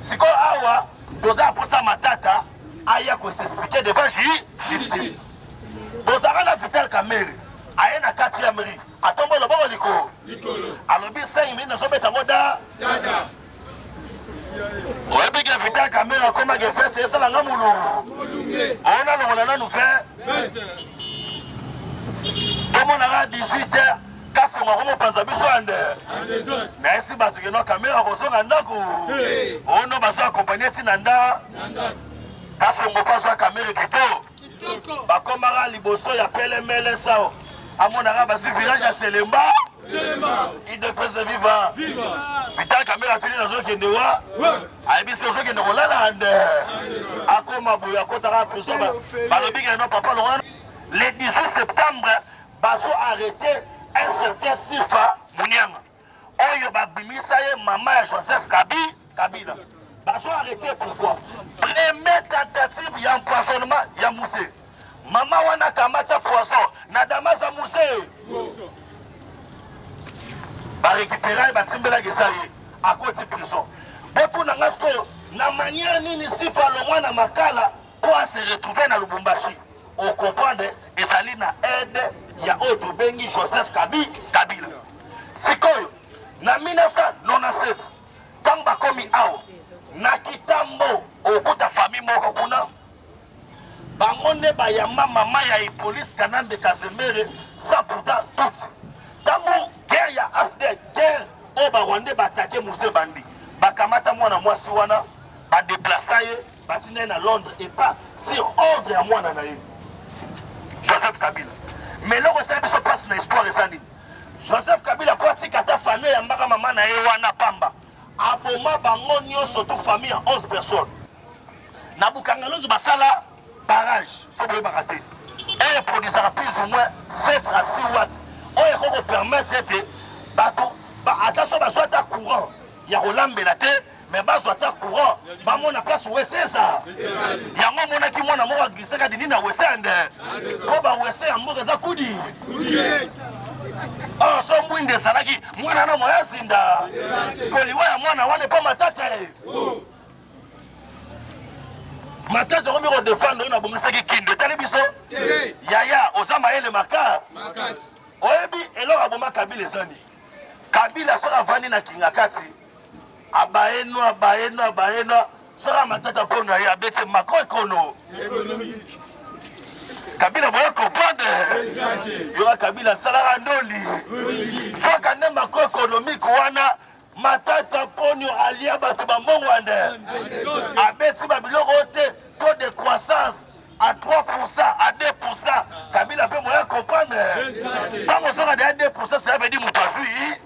Sikoyo awa toza posa matata aya ko s'expliquer devant justice. Bozaka na Vital Kamerhe aye na 4e rue atombo loboko likolo alobi 5 minutes nazobeta ngo da dada oyebi ke Vital Kamerhe akomaki veste esala nga mulungu ona longola nanu 20 tomonaka 18 heures kasi moko mopanza biso ande na esi bato keno kamera kozonga ndako ono bazo akompanye ntina nda kasi moko azwa kamera kito bakomaka liboso ya pelemele sao amonaka basi village ya selemba idepese viva vital kamera atuni nazokende wa ayebisi ozokende kolala ande akoma boye akotaka prison balobi keno papa longola le 18 septembre bazo arrete un certain sifa munianga oyo babimisa ye mama ya joseph kabi kabila bazo arrete pourquoi premier tentative ya empoisonnement ya muse mama wana kamata poison na damaza muse barekipera ye batimbelaki eza ye akoti prison botuna nga sikoyo na maniere nini sifa longwa na makala Mpo a se retrouver na Lubumbashi, o comprendre ezali na aide ya oyo tobengi Joseph Kabi Kabila. Sikoyo na 1997 ntango bakomi awa na Kitambo, okuta famille moko kuna bango nde bayamba mama ya Hippolyte Kanambe Kazemere sans pourtant tutsi ntango guerre ya afdel guerre oyo barwandais baatake muse bandi bakamata mwana mwasi wana badeplasa ye batinda ye na londres epa sur ordre ya mwana na ye joseph kabila ma eloko esali biso mpasi na histoire eza nini joseph kabila po atika ata famille ya mbaka mama na ye wana pamba aboma bango nyonso tu famille ya 11 personnes na bukangalonzo basala barrage so boyebaka te oyo eproduisaka plus ou moins 7 à 6 watt oyo ekoki kopermettre ete bato ata so bazwa ata courant ya kolambela te me bazwa ata courant bamona place wese eza yango omonaki mwana moko aglisaka dini na wese ande mpo bawese ya mboka eza kudi ah, so mbwinde ezalaki mwana na moya zinda sikoliwa ya mwana wana epa matata ye matata okomi kodefendre oyo nabongisaki kindo etali biso yaya oza mayele maka oyebi eloko aboma kabila ezani kabila soki avandi na kingakati abayenwa abayenwa abayenwa sala matata mpo na ye abete mako ekono kabila boye comprendre yoka kabila asalaka ndoli kaka nde mako ekonomike wana matata ponio alia bato bambongwande abeti babiloko oyo te taux de croissance à 3 à 2 kabila mpe moya comprendre ntango ozonga deya 2 cela veut dire moto azwi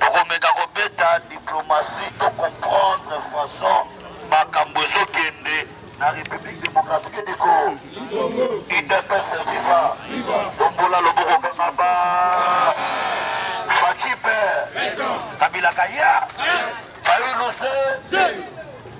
Tokomeka kobeta diplomatie to comprendre façon makambo ezokende na République démocratique du Congo. Udps viva! Tombola loboko kaka ba Fachipe Kabila Kaya Fayulu se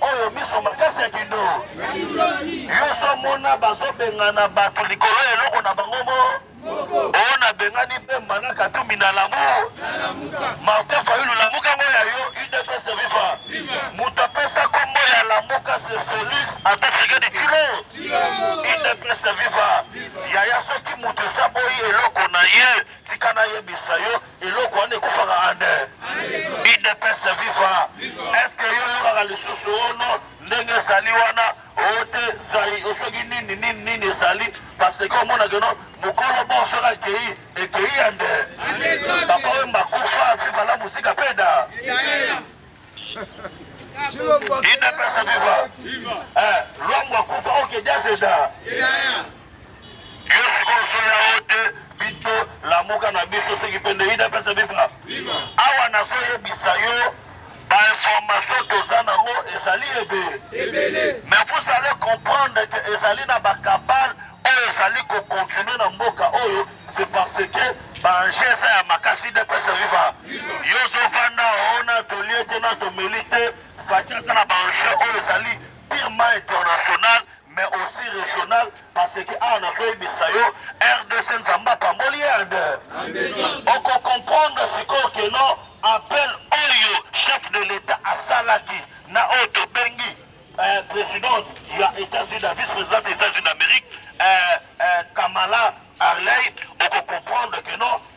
oyo miso makasi ya kindo yoso mona bazobengana bato likolo ya eloko na bango mo oyo nabengani mpe mbana katumbi na lamu martin fayulu lamuka ngo ya yo udps viva moto apesa kombo ya lamuka se felix atafrike di culo udps viva yaya soki moto esaboyi eloko na ye tika nayebisa yo eloko wana ekufaka ande idps viva eske yo yokaka lisusu ono ndenge ezali wana ote zai osoki nini nini nini ezali parce que omonake no mokolo bo soki akei ekei ya nde papa oyo makufa viva la musika peda idps viva eh, lwangu akufa okediazeda Yo sikoyo soki yango te biso lamuka na biso soki mpe nde udps viva awa nazoyebisa yo bainformation toza nango ezali ebele me vous allez comprendre ke ezali na bakabale oyo ezali kokontinue na mboka oyo c'est parce que baenje eza ya makasi udps viva yo ozovanda ona tolie te na tomeli te faci aza na baenje oyo ezali tirement international mais aussi regional parce que awa nazoyebisa yo rdc nzambe apamboli erde okokomprendre sikoyo keno appel oyo chef de l'etat asalaki na oyo tobengi euh, présidente ya états-unis na vice présidente ya états-unis d'amérique euh, euh, kamala arley okokomprendre keno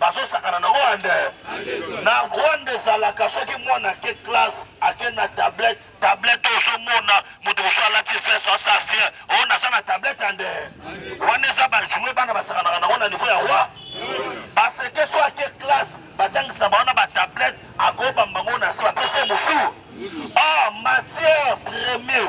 bazosakana na wande na rwanda ezalaka soki mwana ake classe ake na tablette tablette ozomona moto mosusu alati vese asa bien oyo naza na tablette ande wana eza bajoue bana basakanaka nango na niveau ya roi baseke so ake classe batangisa bango na batablette akoyeba mbango na se bapesa ye mosusu or matière premier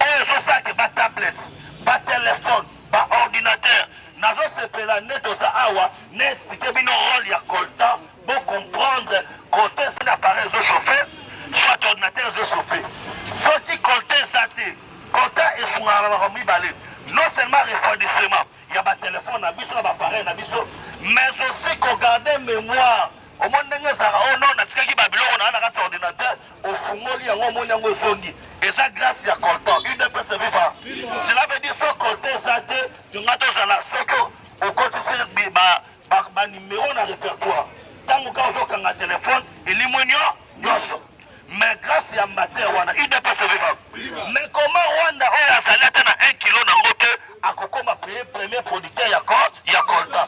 oyo ezosake batablette batelefone ba ordinateur nazosepela nde toza awa na explike bino role ya coltan bo comprendre coltan eza na appareil ezo chauffe soit ordinateur ezo chauffe soki coltan eza te coltan esungaka na makambo mibale non seulement refroidissement ya batelefone na biso na baappareil na biso mais aussi kogarde mémoire omoni ndenge ezalaka o oh non natikaki babiloko na nga na kati ya ordinateur ofungoli yango omoni yango ezongi eza grâce ya coltan udps viva cela veut dire so coltan eza te tonga tozala soki okotisi banimero na répertoire ntango ka ozokanga telefone elimwe nyo nyonso mais grâce ya matière wana udps viva mais koma rwanda oyo azali ata na 1 kilo nango te akokoma premier producteur ya coltan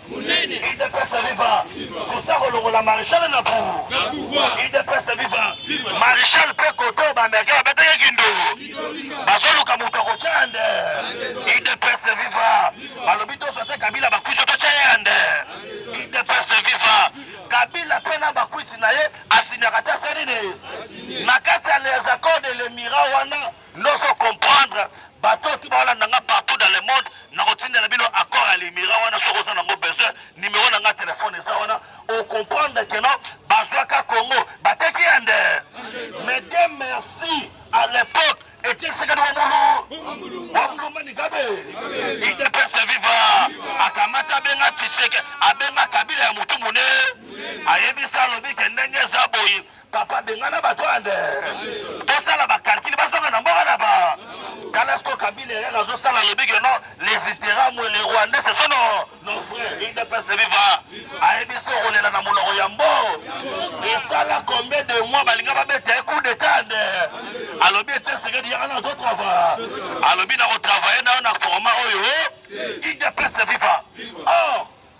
munene idps viva sosa kolongola marechal na pouvoir idps viva marechal mpe koto bamerika babetaki kindo bazoluka moto akotya yande idps viva balobi toso ate kabila bakwiti totya yande idps viva kabila mpe na bakwiti na ye asinyaka te asenini na kati ya les accords de lemira wana Nozo comprendre bato oyo tiba olanda nga partout dans le monde nakotindela bino accord ya limira wana soki oza nango besoin numero na nga telefone eza wana ocomprendre keno bazwaka congo bateki ya nde mais de merci à l'époque etiekisekani wa mulu wa mulumba nikabe idps viva akamata abenga tshiseke abenga kabila ya motu mone ayebisa alobi ke ndenge eza boye Papa bengana bato ande tosala bakalkile bazonga na mboka na ba tala siko kabila eyaka azosala alobi ke non les iteramwe le rwandais ce sont nos frères idps viva ayebisi okolela na monoko ya mbo esala combien de mois balinga babeta ye coup d'etat ande alobi etie sekedi yaka na totrava alobi na kotravaille nayo na format oyo idps viva or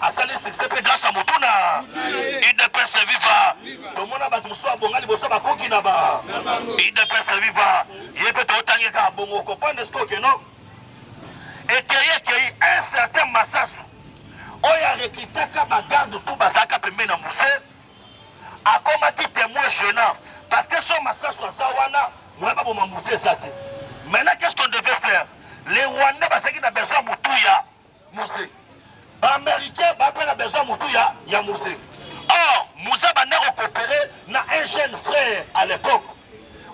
asali succès mpe grâce ya motu na udps viva tomona bato mosusu abonga liboso bakoki na ba udps viva ye mpe totangi kaka bongo okoprendre siko keno ekei ekei un certain masasu oyo arekitaka bagarde tu bazalaka pembe na muse akomaki témoin gênant parce que so masasu aza wana moya baboma muse eza te maintenant qu'est ce qu'on devait faire les rwandais bazalaki na besoin motuya Mose. Ba Américains ba pela besoin mutu ya ya Mose. Or, Mose banda ko coopérer na un jeune frère à l'époque.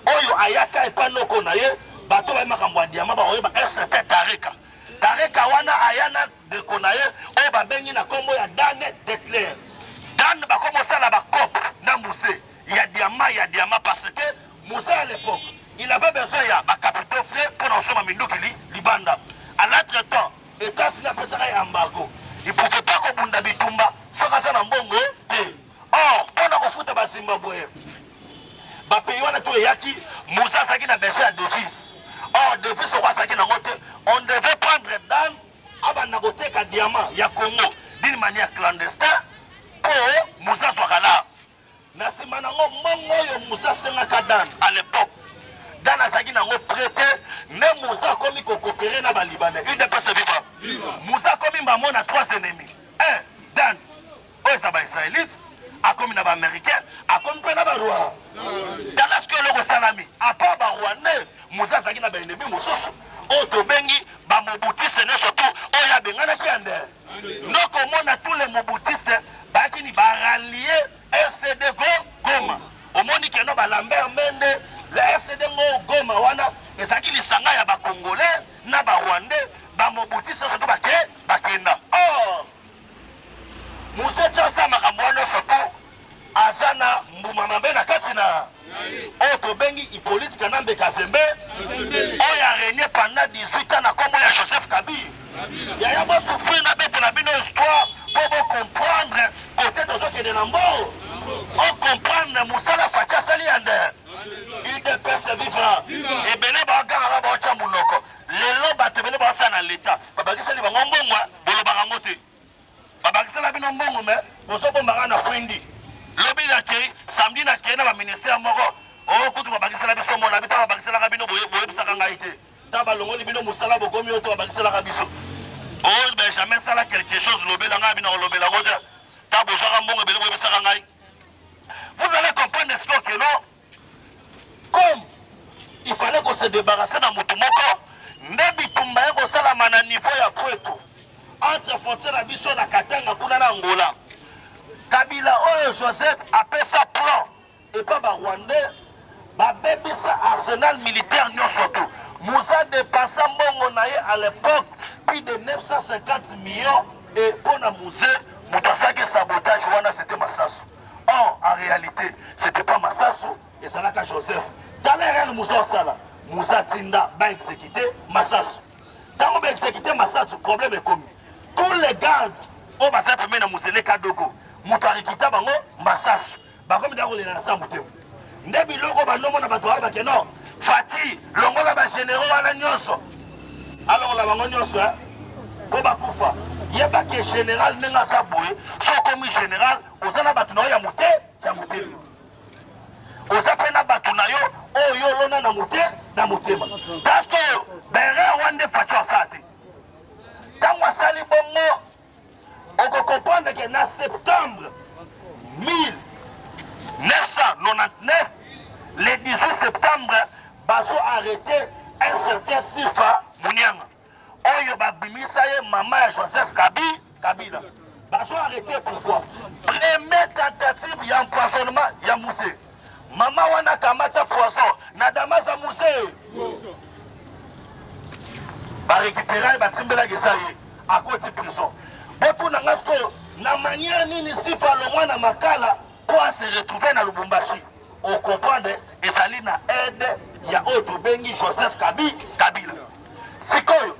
Oyo ayaka epa noko na ye, bato ba makambo ya diamant ba oyeba un certain Tareka. Tareka wana ayana ndeko na ye oyo babengi na kombo ya Dan Detler. Dan bakomosala ba coop na Mose. ya diama ya diama parce que musa à l'époque il avait besoin ya ba capitaux frais pour na kosomba minduki li, libanda à l'autre temps etats-unis apesaka ya embargo il pouvait pas kobunda bitumba soki aza na mbongo te or mpo na kofuta bazimbabwe bapayi wana to eyaki musa azalaki na besoin ya devise or devise oko azalaki nango te on devait prendre dan abanda koteka diamant ya congo d'une manière clandestin mpo musa azwaka la Na sima na ngo mbongo oyo Musa asengaka Dan à l'époque Dan azalaki na ngo prete nde Musa akomi kokopere na balibane udps viva Musa akomi mbamo na trois ennemis un Dan oyo eza baisraelite akomi na baaméricain akomi mpe na barwanda tala soki eloko esalami apart barwandais Musa azalaki na baennemi mosusu oyo tobengi bamobutiste ne surtout oyo abenganaki ya ndee Noko omona tous les mobutistes bakini ba rallier RCD go Goma. Omoni keno ba Lambert Mende le RCD ngo Goma wana ezaki lisanga ya ba Congolais na ba Rwandais ba mobutistes surtout bake bakenda. Or Musecha sa makambo wana surtout aza na mbuma mabe na kati na oyo tobengi Hippolyte Kanambe Kazembe oyo aregne pendant 18 ans na kombo ya Joseph Kabila yaya bosufri na bete na bino histoire po bocomprendre kote tozokende na mbo ocomprendre mosala faci asali yande udps viva ebele baogangaka baotya monoko lelo bato ebele baosala na leta babakisali bango mbongwa bolobaka yango te babakisela bino mbongo me bozobombaka na fwendi lobi nakei samedi nakei na baministère moko o oh, kutu babakisela biso mona bita babakiselaka bino boyebisaka ngai te ta balongoli bino mosala bokomi oyo to babakiselaka biso o oh, benjamin sala quelque chose lobela ngai bino kolobela ngo te ta bozwaka mbongo ebele boyebisaka ngai vous allez comprendre ce que non Comme il fallait ko se débarrasser na mutu moko nde bitumba ye kosalama na niveau ya Pweto entre frontière na biso na Katanga kuna na Angola. Kabila oyo Joseph apesa plan epa ba Rwandais babebisa arsenal militaire nyonso tu muza depasa mbongo na ye à l'époque plus de 950 millions et mpo na musée moto asalaki sabotage wana c'était masasu or en realite c'était pas masasu ezalaka joseph tala erreur musa osala musa tinda ba exécuté masasu ntango ba exécuté masasu problème ekomi tous les gardes oyo bazali pembeni na mozele kadogo moto arikita bango masasu bakomi nda kolela na sa motema nde biloko banomona bato wana bake no fati longola bagenero wana nyonso alongola bango nyonso eh? po bakufa yeba ke general ndenge aza boye so okomi general oza na bato na yo ya mote ya motema oza mpe na bato na yo oyo olona na mote na motema parce que berer wana nde fati asala te ntango asali bongo Okokomprendre que na septembre 1999, le 18 septembre, bazo arrete un certain Sifa Munyanga. Oyo babimisa ye mama ya Joseph Kabila. Kabila. Bazo arrete pourquoi? Première tentative ya empoisonnement ya musée. Mama wana kamata poison na damaza musee barekipera ye batimbelaki eza ye akoti prison botuna nga sikoyo na manière nini sifa alongwa na makala mpo ase retrouve na lubumbashi okomprendre ezali na aide ya oyo tobengi joseph kabi kabila sikoyo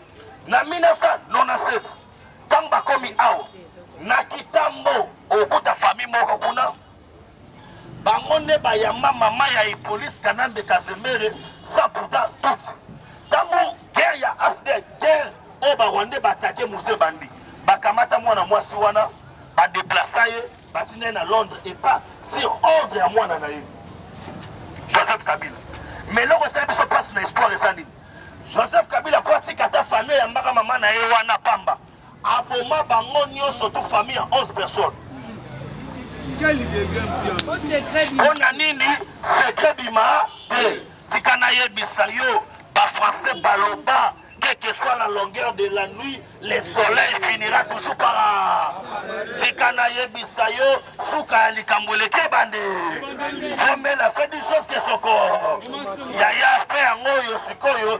na 1997 ntango bakomi awa na kitambo okuta fami moko kuna Bango nde bayamba mama ya Hippolyte Kanambe Kazemere sans pourtant tutsi. Tango guerre ya AFDL, guerre oyo ba Rwandais ba attaquer Muse Bandi, bakamata mwana mwasi wana ba déplacer ye batinda ye na Londres et pas sur ordre ya mwana na ye Joseph Kabila. Mais eloko esali biso mpasi na histoire eza nini? Joseph Kabila akotika ata famille ya mbaka mama na ye wana pamba Aboma bango nioso tout famille ya 11 personnes. Pona nini secret bima te tika nayebisa yo ba français baloba quelle que soit la longueur de la nuit, le soleil finira toujours par tika nayebisa yo suka ya likambo eleki ebandi omela fait du chose ke soko yaya fe yango oyo sikoyo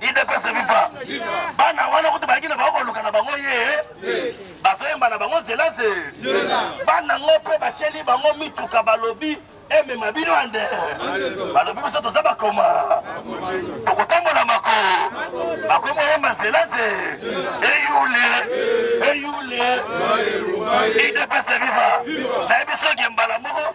idepese viva bana wana kutu bayaki na bango koluka na bango ye bazoyemba na bango nzela nze bana ngo mpe batyeli bango mituka balobi emema bino ande balobi biso toza bakoma tokotambola mako bakomi oyemba nzela nze eyule eyule idepese viva nayebi soki mbala moko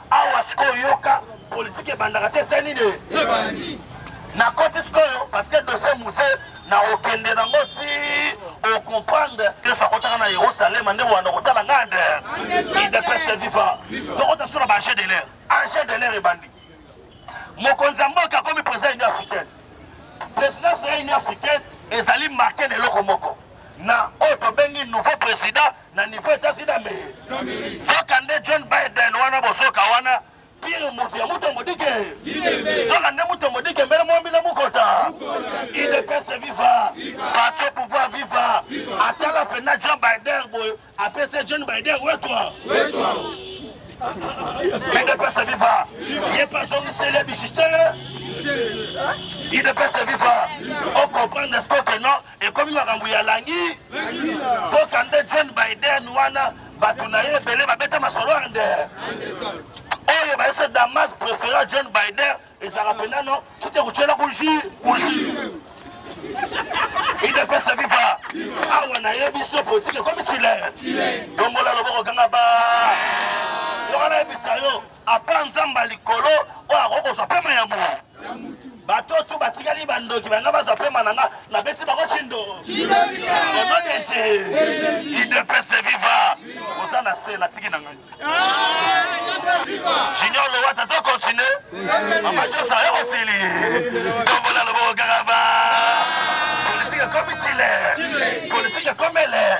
awa sikoyo yoka politike ebandaka te se nini ebandi nakoti sikoyo parceke dosie muse na okende nango ti okomprendre yesu akotaka na yerusalema nde wanda okotala ngai nde idepese viva tokota so na baange de l'air ange de l'air ebandi mokonzi ya mboka akomi président ya union africaine présidence ya union africaine ezali marke na eloko moko na oyo tobengi nouveau président na niveau etasi na mei kaka nde john biden wana bozoka wana pire moto ya moto modike kaka nde moto modike mbele mwambi na mokota idps viva patio pouvoir viva atala mpena john biden boye apesi john biden wetwa idps viva ye mpe azongiseli ya bisiste idps viva okomprendre scoke non ekomi makambo ya langi soka nde John Biden wana bato na ye ebele babeta masolo ya nde oyo bayese damas préféra John Biden ezalaka mpenza no tite kotyela kuji kuji idps viva awa na ye biso politike ekomi chile longola loboko ganga ba yoka nayebisa yo apa nzambe ya likolo oyo akoki kozwa mpema ya moto bato oyo tu batikali bandoki banga bazwa mpema na nga napesi bango cindo onodese idepese viva oza na se natiki na ngai junior lowata to continue mama josa yo kosili tombola loboko kaka ba politike ekomi chile politike ekomele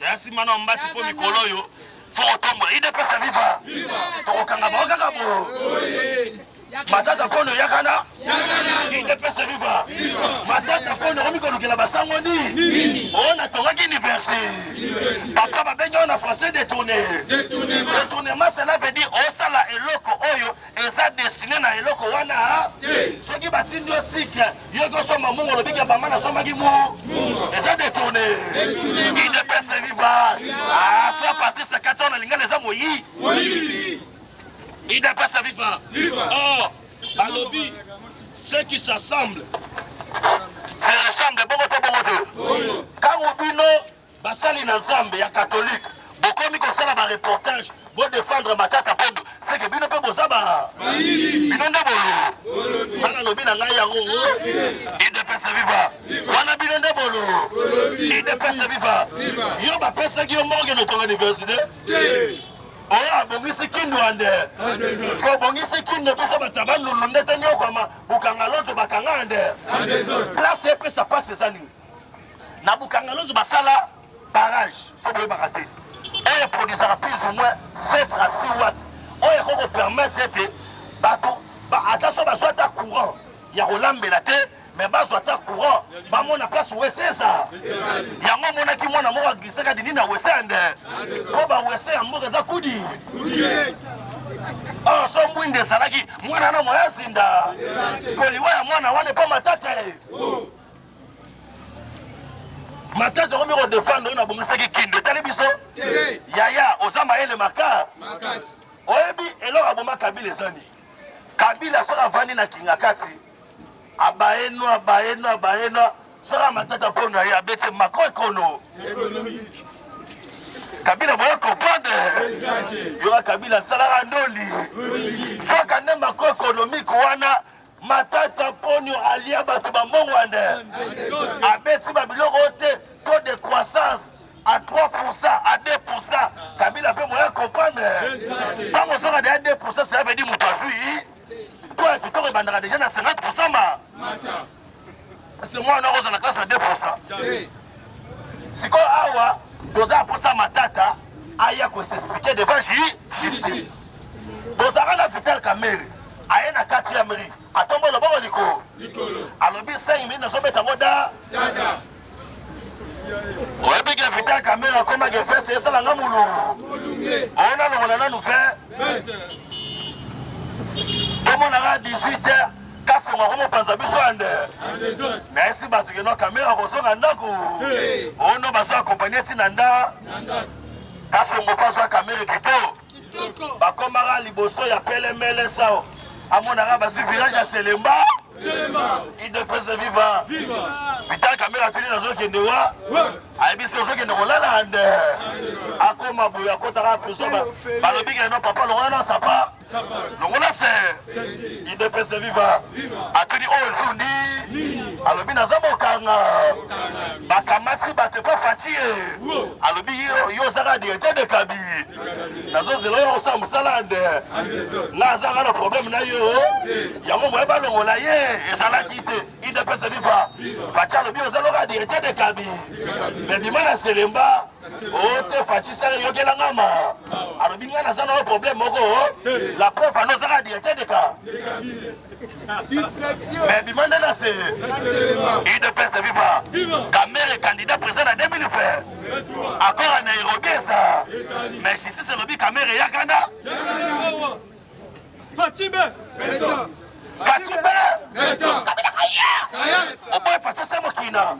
ya nsima na mbati mpo mikolo oyo fo kotombola idepesa viva tokokanga bango kaka bo matata kono yakana idepesa viva matata kono okomi kolukela basango nini oyo natongaki université papa babengi oyo na français détourné détournement cela veut dire osala eloko oyo eza destine na eloko wana te. Soki batindi yo sike yo kosomba mungu olobi ke mama nasombaki mu eza detourne idps viva ah, fra patrice kati wana lingala eza moyi idps viva or oh, balobi ce qui s'assemble se ressemble bongo te bongo te kango bino Basali na Nzambe ya katolike bokomi kosala ba reportage bo défendre matata pendo seke bino mpe boza ba bino nde bololo bana lobi na ngai yango idepesa viva wana bino nde bololo idepesa viva yo bapesaki yo morgue na tonga université oyo abongisi kindu ande kobongisi kindu biso batabalulu ndete niokwama bukanga lonzo bakanga ande place epesa pasi eza nini na bukangalozo basala barrage so boyebaka te oyo eproduisaka plus ou moins 7 à 6 watt oyo ekoki kopermettre ete bato ata so bazwa ata courant ya kolambela te me bazwa ata courant bamona place wese eza yango amonaki mwana moko aglisaka dini na wese ande mpo bawese ya mboka eza kudi or so mbwinda ezalaki mwana na moya zinda koliwa ya mwana wana epa matata ye matete okomi kodefendre oyo nabongisaki kindu etali biso yaya oza mayele maka oyebi eloko aboma kabila ezani kabila soki avandi na kinga kati abayenwa abayenwa abayenwa soki amatata mpono ye abeti mako ekono kabila boye comprendre yoka kabila asalaka ndoli soka nde mako ekonomike wana Matata Ponyo alia bato ba Mbongwande, abeti ba biloko te, taux de croissance à 3%, à 2%, Kabila peut moyen comprendre. Tant on sera déjà 2%, ça veut dire mon pas toi, tu t'aurais déjà à 50% ma. Kasi mwana noko ozala classe ya 2%. Sikoyo awa toza posa matata aya ko s'expliquer devant justice. Tozaka na Vital Kamerhe aye na 4e rue atombo loboko likolo alobi 5 minutes nazobeta ngo da oyebi ke vital kamere akomaki veste esala nga molungu ona longola nanu ve tomonaka 18 heure kasongo akomopanza biso ande nayesi bato keno kamere akozonga ndako ono bazo akompanye ntina nda kasongo mpo azwa kamere kito bakomaka liboso ya pelemele sao amonaka bazwi village ya selemba idps viva vital kamere atuni nazokende wa ayebisi ozokende kolala nde akoma boye akotaka prison balobi keno papa longola na sapa longola se idps viva atuni oyo jour ndi alobi naza mokanga bakamati bato epa faci ye alobi yo ozaka directeur de kabi nazozela oyo kosala mosala ya nde nga azanga na probleme na yo yango moye balongola ye ezalaki te idps viva faci alobi ozaloka directeur de kabi me bima na selemba ote oh, faci sala eyokela nga ma alobi nga naza na yo probleme moko la preuve ana ozaka directeur de ka mais bima nde na se udps viva kamere candidat président na 2020 accord ya nairobi eza mais justice elobi kamere yakana fatibe fatibe kabila kaya oboye faso se mokina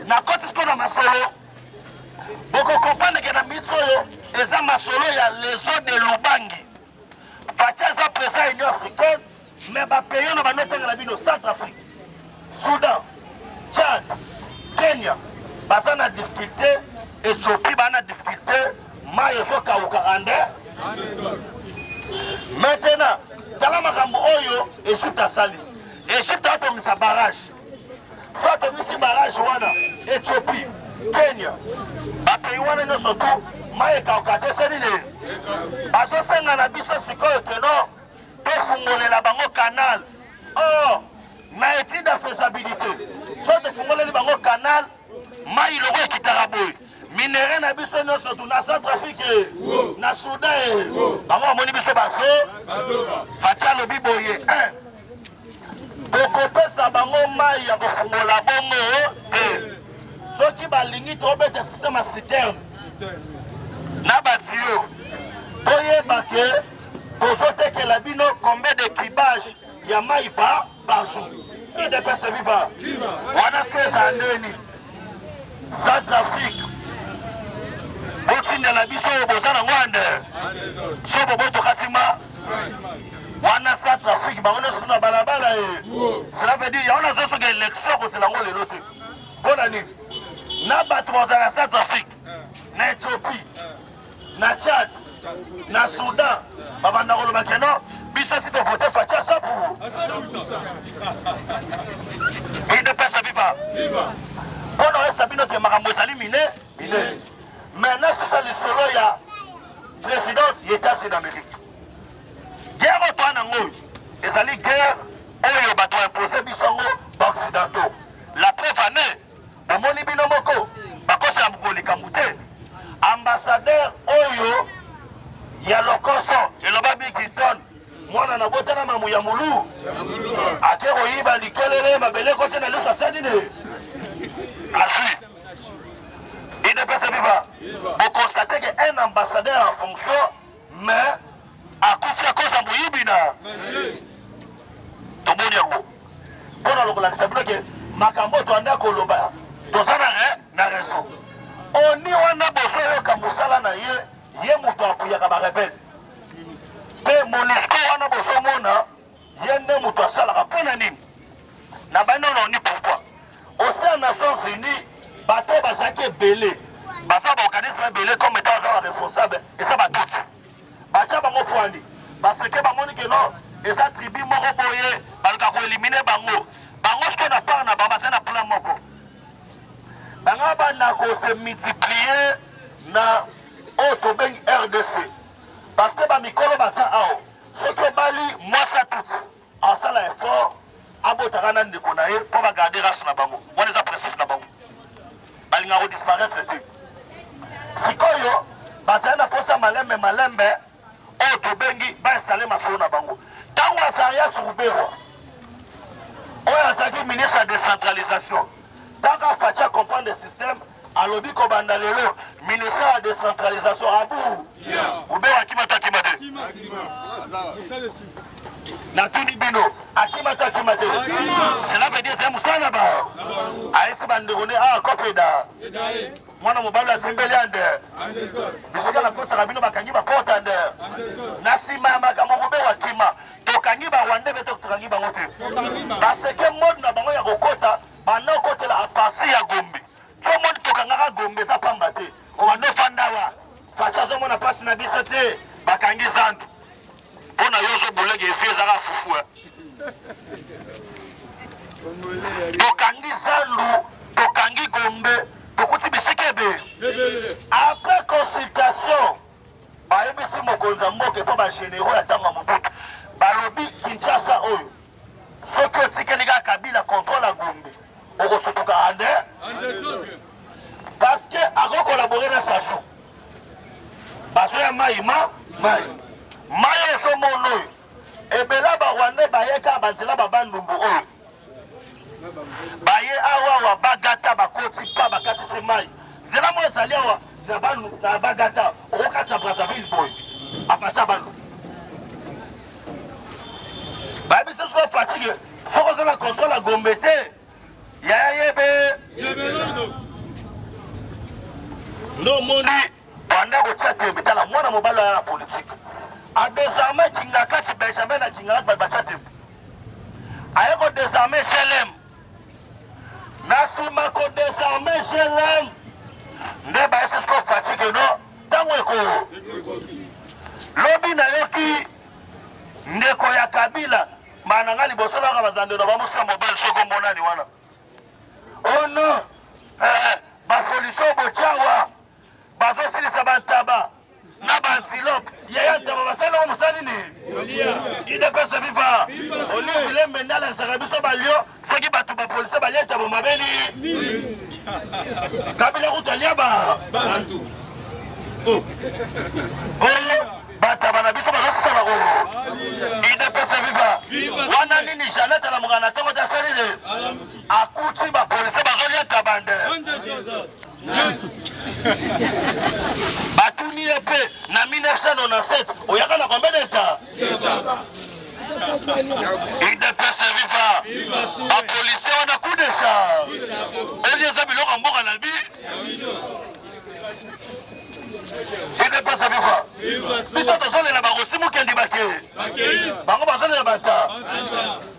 na koti siko na masolo bokokomprendre ke na miti oyo eza masolo ya leso de lubangi Fatshi aza president ya Union africaine mais ba pays oyo banda otanga na bino Centre Afrique, Soudan, Tchad, Kenya baza na difficulté, Ethiopie baa na difficulté, mai ezokauka ande. Maintenant tala makambo oyo Egypte asali. Egypte atongisa barrage soit tobisi barrage wana ethiopie kenya bapayi wana nyonso tu mai ekauka te se nini bazosenga na biso sikoyo keno tofungolela bango kanal o oh, na étude ya faisabilité so tofungoleli bango kanal mai loko ekitaka boye minere na biso nyonso tu na centre afrique na soudan bango bamoni biso bazo faci alobi boye Tokopesa bango mai ya kofungola bongo te. Soki balingi tobeta système ya citerne na batiyo, toyeba ke tozotekela bino combien de kibage ya mai pa par jour. Udps viva! Wana siko ezala ndeni sans trafic botindela biso oyo boza na ngwande sobo botokati ma wana sa trafic bango nyonso kuna balabala ye cela veut dire yango nazo soki élection akozela yango lelo te mpo na nini na bato bazala na south afrique na ethiopie na tchad na soudan babanda koloba ke non biso si tovote faci asapu idepesa biba mpo na oyesa bino te makambo ezali mine mine me nasusa lisolo ya Presidence ya Etats-Unis d'Amerique. Guerre oyo toa nango oyo ezali guerre oyo bato impose biso yango baoccidentaux. La preuve en est, bomoni bino moko bakosela mokolo likambo te. Ambassadeur oyo ya lokoso eloba Bigington mwana na botana mamu ya mulu ake koyiba likelele mabele ekoti na liso asali nini azwi idps viva bokonstate ke un ambassadeur en fonction mais akufi akozi ya moyibi na tomoni yango mpo na lokolakisa bino ke makambo toanda koloba toza na raison oni wana bozoyoka mosala na ye ye moto apuyaka barebele mpe monisco wana bozomona ye nde moto asalaka mpo na nini na banda na oni pourkoi osea nations unis bato oyo bazalaki ebele baza baorganisme ebele comme etat aza baresponsable eza batuti batya bango pwani baseke bamoni ke no eza tribu moko boye baluka koelimine bango bango sikoyo na part na bango baza na plan moko banga banda kose multiplier na oyo tobengi rdc parce que bamikolo baza awa soki obali mwasi ya tutsi asala effort abotaka na ndeko na ye mpo bagarde race na bango wana eza principe na bango balingaka kodisparaître te sikoyo bazali na mposa malembe malembe oyo tobengi bainstale masolo na bango ntango azarias ruberwa oyo azalaki ministre ya décentralisation ntango afaci acomprendre système alobi kobanda lelo ministère ya decentralisation abu ubela akima to akima te natuni bino akima to akima te cela veut dire c'est mosala na bango ayesi bandeko ne a ah, kopeda mwana mobali atimbeli ande bisika nakosaka bino bakangi bakota nde na nsima ya makambo kobela akima tokangi barwande mpe tokangi bango te baseke mode na bango ya kokota banda okotela a partir ya gombe somoni tokangaka gombe eza pamba te obanda ofandawa faci azomona mpasi na biso te bakangi zandu mpo na yo ozobulege evi ezaka fufu eh. tokangi zandu tokangi gombe tokuti bisika ebele après consultation bayebisi mokonzi ya mboka epo bagénéraux ya ntango ya mobutu balobi kinshasa oyo Soki otikeli kaka Kabila contrôle à Gombe, okosutuka ande parce que ako collaborer na Sassou. Bazo ya mai ma mai mai ozo mono oyo ebela ba Rwandais baye kaka banzela ba bandumbu oyo baye awa awa bagata bakoti pa bakatisi mai nzela moko ezali awa na bagata okokatisa Brazzaville boye apatisa bandumbu bayebisa soki fatike soki oza na controle ya gombe te yaya yebe nde omoni banda kotia tembe tala mwana mobali aya na politike adesarme kingakati benjamin na kingakati bato batia tembe aye kodesarme shelem Na sima ko desarmer GLM nde ba esi ko fatigue no tango eko lobi na yoki ndeko ya Kabila mana nga liboso naka bazando na bamusa mobile soko monani wana oh non eh, eh bapolisi oyo bocawa bazosilisa bantaba na baantilope yaya ntaba basali yango mosali nini idepesa viva olive lembe nde alakisaka biso balio soki bato bapolisi balia ntaba mabeli kabila kutu alia ba oh. bataba na biso bazosisa bakoko idepesa viva wana nini janete alamuka na ntongo te asali de akuti bapolisi bazolia ntaba nde batuni ye mpe na 1997 oyaka na combien de temps udps viva bapolisie wana coup de char oli eza biloko ya mboka na bi udps viva biso tozolela bakosi mokendi bake bango bazolela bata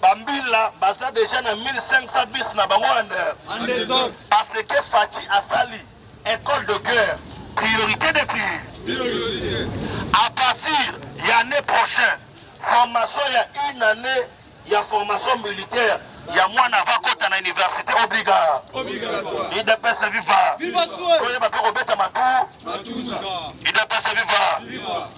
Bambila baza deja na 1500 bis na bango under parce que Fatshi asali école de guerre priorité de priorité à partir ya année prochaine formation ya une année ya formation militaire ya mwana akota na université obliga idps viva koyeba mpe kobeta matu idps viva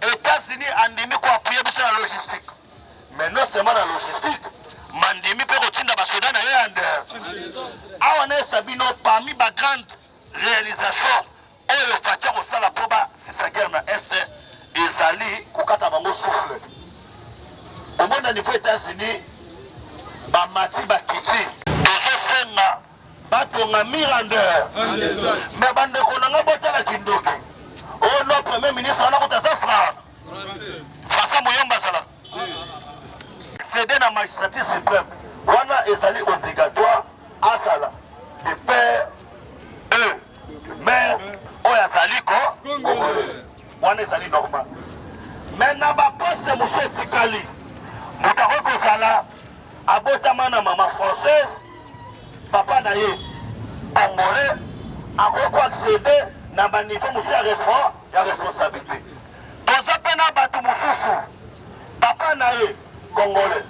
Etats-Unis andimi ko appuyer biso na logistique mais non seulement na logistique mandimi mpe kotinda basoda na ye ya ndere awa nayesa bino parmi ba grande réalisation oyo fatia kosala mpo basisa guerre na est ezali kokata bango souffle omona niveau états-unis bamati bakiti tozosenga batonga mirandeur mais bandeko na ngai botala kindoki oyo oh no premier ministre wana kuta aza fra basa moyomba azala cede na magistrature supreme wana ezali obligatoire azala de père e mare oyo azali ko wana ezali normal me na baposte mosusu etikali moto akoki kozala abotama na mama française papa na ye angolais akoki koaccede na baniveau mosusu ya responsabilité toza mpe na bato mosusu papa na ye congolais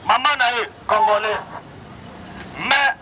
mama na ye congolaise mais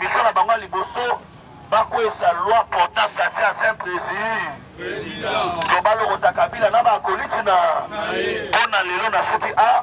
Mission na bango ya liboso bakwesa loi portant statut ancien président loba lokota kabila na bakoliti na mpo na lelo nasuki a